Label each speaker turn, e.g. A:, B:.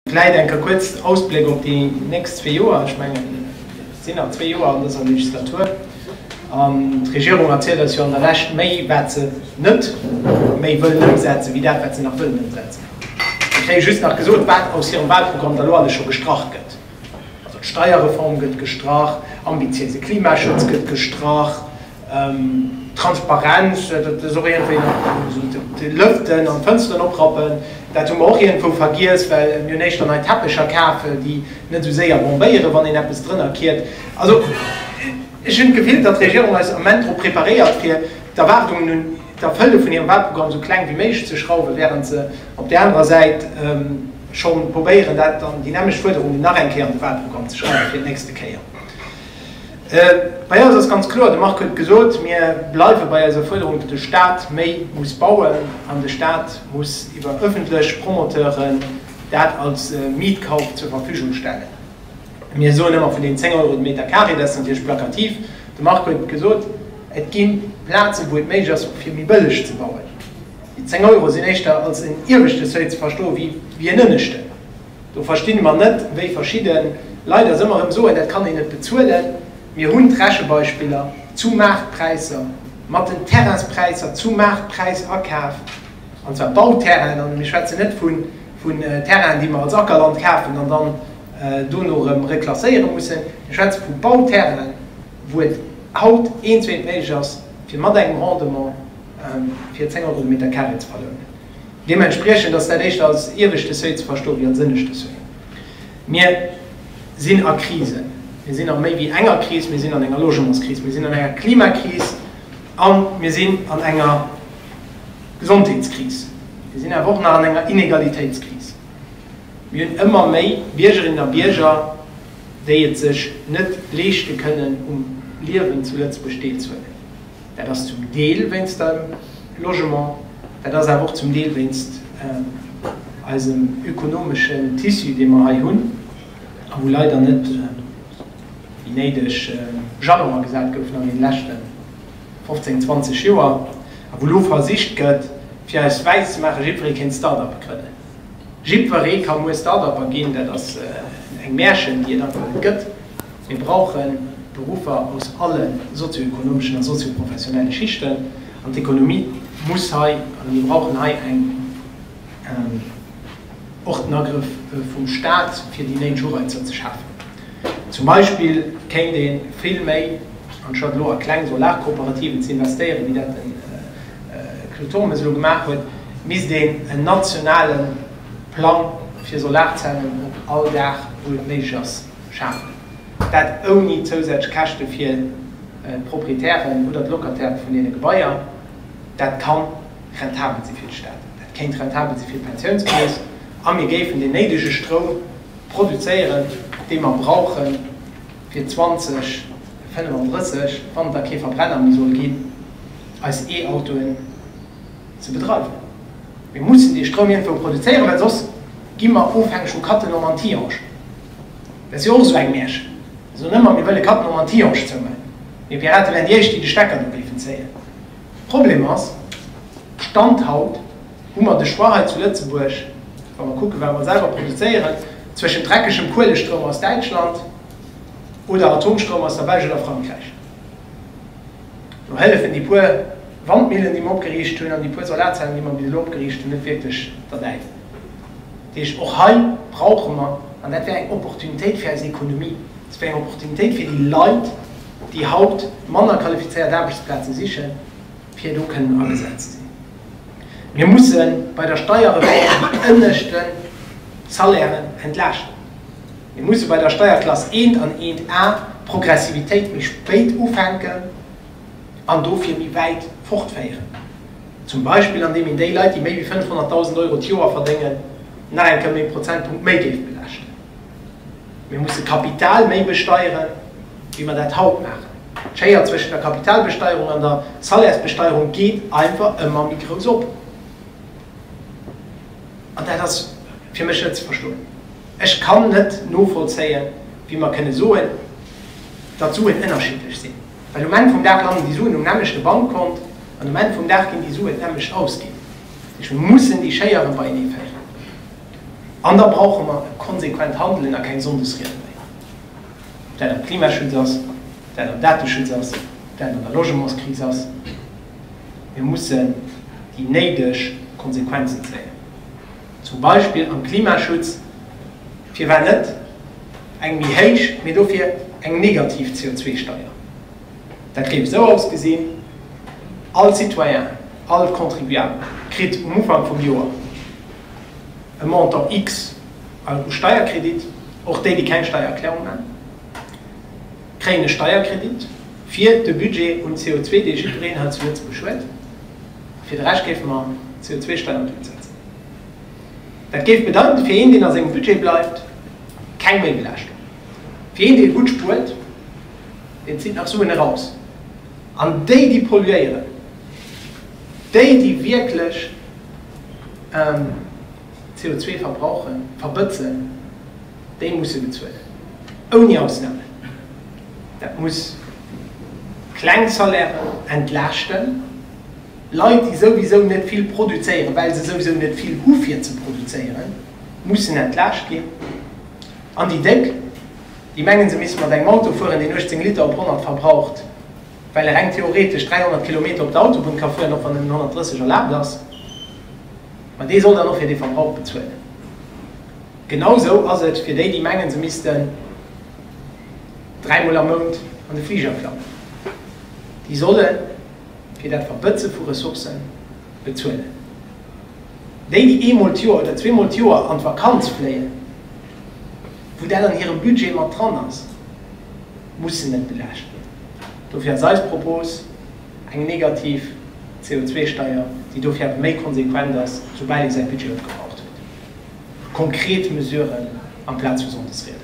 A: Vläit eng Kéier kuerz en Ausbléck op déi nächst zwee Joer. Ech mengen, et sinn nach zwee Joer an dëser Legislatur. An d'Regierung erzielt eis jo an der Lescht méi, wat se net méi wëllen ëmsetzen, wéi dat, wat se nach wëllen ëmsetzen. Ech kréie just nach gesot, wat aus hirem Wahlprogramm da lo alles scho gestrach gëtt. Also d'Steierreform gëtt gestrach, ambitiéise Klimaschutz gëtt gestrach. Transparenz, dat ass och iergendwéi nach esou de Lëften an d'Fënsteren oprappen, dat hu mer och iergendwou vergiess, well mir hunn éischter nei Teppecher kaf, déi net esou séier bombéieren, wann een eppes drënner kiert. Also ech hunn d'Gefill, datt d'Regierung eis am Moment drop preparéiert, fir d'Erwaardungen un d'Erfëlle vun hirem Wahlprogramm esou kleng wéi méiglech ze schrauwen, wärend se op där anerer Säit scho probéieren, dat an déi nämmlecht Fuerderungen nach eng Kéier an de Wahlprogramm ze schreiwen fir d'nächste Kéier. Bei eis ass ganz kloer, de Marc huet et gesot, mir bleiwe bei eiser Fuerderung, datt de Staat méi muss bauen an de Staat muss iwwer öffentlech Promoteuren dat als Mietkauf zur Verfügung stellen. Mir soen ëmmer vun den 10 Euro de Meter carré, dat ass natierlech plakativ. De Marc huet et gesot, et gi Plazen, wou et méiglech ass och fir méi bëlleg ze bauen. Déi 10 Euro sinn éischter als en ieweschte Seuil ze verstoen, wéi en ënneschten. Do verstinn emmer net wéi verschidden Leit ass emmer erem soen dat kann een net bezuelen. Mir hunn d'Rechebeispiller zu Maartpräisser mat den Terrainspräisser zu Maartpräis akaf, an zwar Bauterrainen, an mir schwätzen net vun Terrainen déi mer als Ackerland kafen an dann dono erem reklasséiere mussen. Mir schwätze vu Bauterrainen wou et haut eenzwee net méiglech ass fir mat engem Rendement fir 10 Euro de Meter carré ze verlounen. Deementspriechend ass dat éischter als ieweschte Seuil ze verstoen, wéi als ënneschte Seuil. Mir sinn a Krisen. Mir sinn a méi wéi enger Kris. Mir sinn an enger Logementskris, mir sinn an enger Klimakris a mir sinn an enger Gesondheetskris. Mir sinn awer och nach an enger Inegalitéitskris. Mir hunn ëmmer méi Biergerinnen a Bierger, déi et sech net leeschte kënnen, um Liewen zu Lëtzebuerg deelzehuelen. Dat ass zum Deel wéinst dem Logement, dat ass awer och zum Deel wéinst eisem ökonomeschen Tissu, dee mer hei hunn a wou leider net déi néideg Jalonen gesat goufen an deene leschte 15, 20 Joer a wou elo versicht gëtt, fir eis wäiss ze maachen, jiddweree kéint Start-uppe grënnen. Jiddweree ka muer Start-upper ginn. Dat ass eng Märchen, déi et einfach net gëtt. Mir brauchen Beruffer aus alle sozioekonomeschen a sozioprofessionelle Schichten an d'Ekonomie muss hei, a mir brauchen hei och den Agrëff vum Stat, fir déi néideg Ureizer ze schafen. Zum Beispill kéint ee vill méi anstatt elo a kleng Solarkooperativen ze investéieren, wéi dat de Claude Turmes elo gemaach huet, misst een en nationale Plang fir Solarzellen op all Daach, wou et méiglech ass, schafen. Dat ouni zousätzlech Käschte fir d'Proprietären oder d'Locataire vun deene Gebaier. Dat ka rentabel si fir de Staat, dat kéint rentabel si fir d'Pensiounskeess a mir géifen deen néidege Stroum produzéieren, dee mer brauche fir 2035, wann et da kee Verbrenner méi soll ginn, eis E-Autoen, ze bedreiwen. Mir mussen dee Stroum iergendwou produzéieren, well soss gi mer ofhängeg vu Cattenom an Tihange. Dat ass jo och esou eng Märchen. Mir soen ëmmer, mir wëlle Cattenom an Tihange zoumaachen. Mir Pirate wären déi éischt, déi de Stecker do géifen zéien. De Problem ass, Stand haut hu mer de Choix hei zu Lëtzebuerg, wa mer kucken, wat mer selwer produzéieren, zwëschent dreckegem Kuelestroum aus Däitschland oder Atomstroum aus der Belsch oder Frankräich. Do hëllefen déi puer Wandmillen, déi mer opgeriicht hunn, an déi puer Solarzellen, déi mer bis elo opgeriicht hunn, net wierklech derbäi. Dat heescht, och hei brauche mer, an dat wär eng Opportunitéit fir eis Ekonomie, dat wär eng Opportunitéit fir déi Leit, déi haut manner qualifizéiert Aarbechtsplaze sichen, fir do kënnen agesat ze sinn. Mir musse bei der Steierreform déi ënneschten Salairen entlaaschten. Mir musse bei der Steierklass eent an eent A d'Progressivitéit méi spéit ufänken an dofir méi wäit fortféieren, zum Beispill an deem een déi Leit, déi méi wéi 500.000 Euro d'Joer verdéngen, nach eng Kéier méi e Prozentpunkt méi géif belaaschten. Mir musse Kapital méi besteieren, wéi mer dat haut maachen. D'Schéier zwëschen der Kapitalbesteierung an der Salairsbesteierung geet einfach ëmmer méi grouss op. An dat ass fir mech net ze verstoen. Ech kann net novollzéien, wéi mer kënne soen, datt d'Suen ënnerschiddlech sinn, well um Enn vum Dag landen déi Suen um nämmlechte Bankkont an um Enn vum Dag ginn déi Suen d'nämmlecht ausginn. Dat heescht, mir mussen déi Schéieren beienee féieren an da brauche mer e konsequent Handelen a keng Sonndesriede méi, ob dat am Klimaschutz ass, ob dat am Dateschutz ass, ob dat an der Logementskris ass. Mir mussen déi néideg Konsequenzen zéien. Zum Beispill am Klimaschutz, firwat net eng méi héich, mee dofir eng negativ CO2-Steier? Dat géif esou ausgesinn, All Citoyen, all Contribuable kritt um Ufank vum Joer e Montant X an u Steierkredit, och déi, déi keng Steiererklärung maachen, kréien e Steierkredit fir de Budget un CO2, dee jiddwereen hei zu Lëtzebuerg huet. Fir de Rescht géife mer d'CO2-Steier op Null setzen. Dat géif bedeiten, fir een, deen a sengem Budget bleift, keng Méibelaaschtung. Fir een, dee gutt spuert, deen zitt nach Suen eraus. An déi, déi polluéieren, déi, déi wierklech. CO2 verbrauchen, verbëtzen, déi musse bezuelen. Ouni Ausname. Dat muss kleng Salairen entlaaschten, Leit déi souwisou net vill produzéieren, well se souwisou net vill hu fir ze produzéieren, mussen entlaascht ginn. An déi Déck, déi mengen se misste mat engem Auto fueren, deen 18 Liter op 100 verbraucht, well e reng theoretesch 300 Kilometer op der Autobunn ka fueren, och wann en 130 erlaabt ass. An dee soll dann och fir dee Verbrauch bezuelen. Genau sou ass et fir déi, déi mengen, se missten dräimol am Mount an de Fliger klammen. Déi solle fir dat Verbëtze vu Ressourcë bezuelen. Déi, déi eemol d'Joer oder zweemol d'Joer an d'Vakanz fléien, wou dat an hirem Budget mat dran ass, mussen net belaascht ginn. Dofir ass eis Propos, Eng negativ CO2-Steier, déi dofir awer méi konsequent ass, soubal ee säi Budget opgebraucht huet. Konkret Mesuren amplaz vu Sonndesrieden.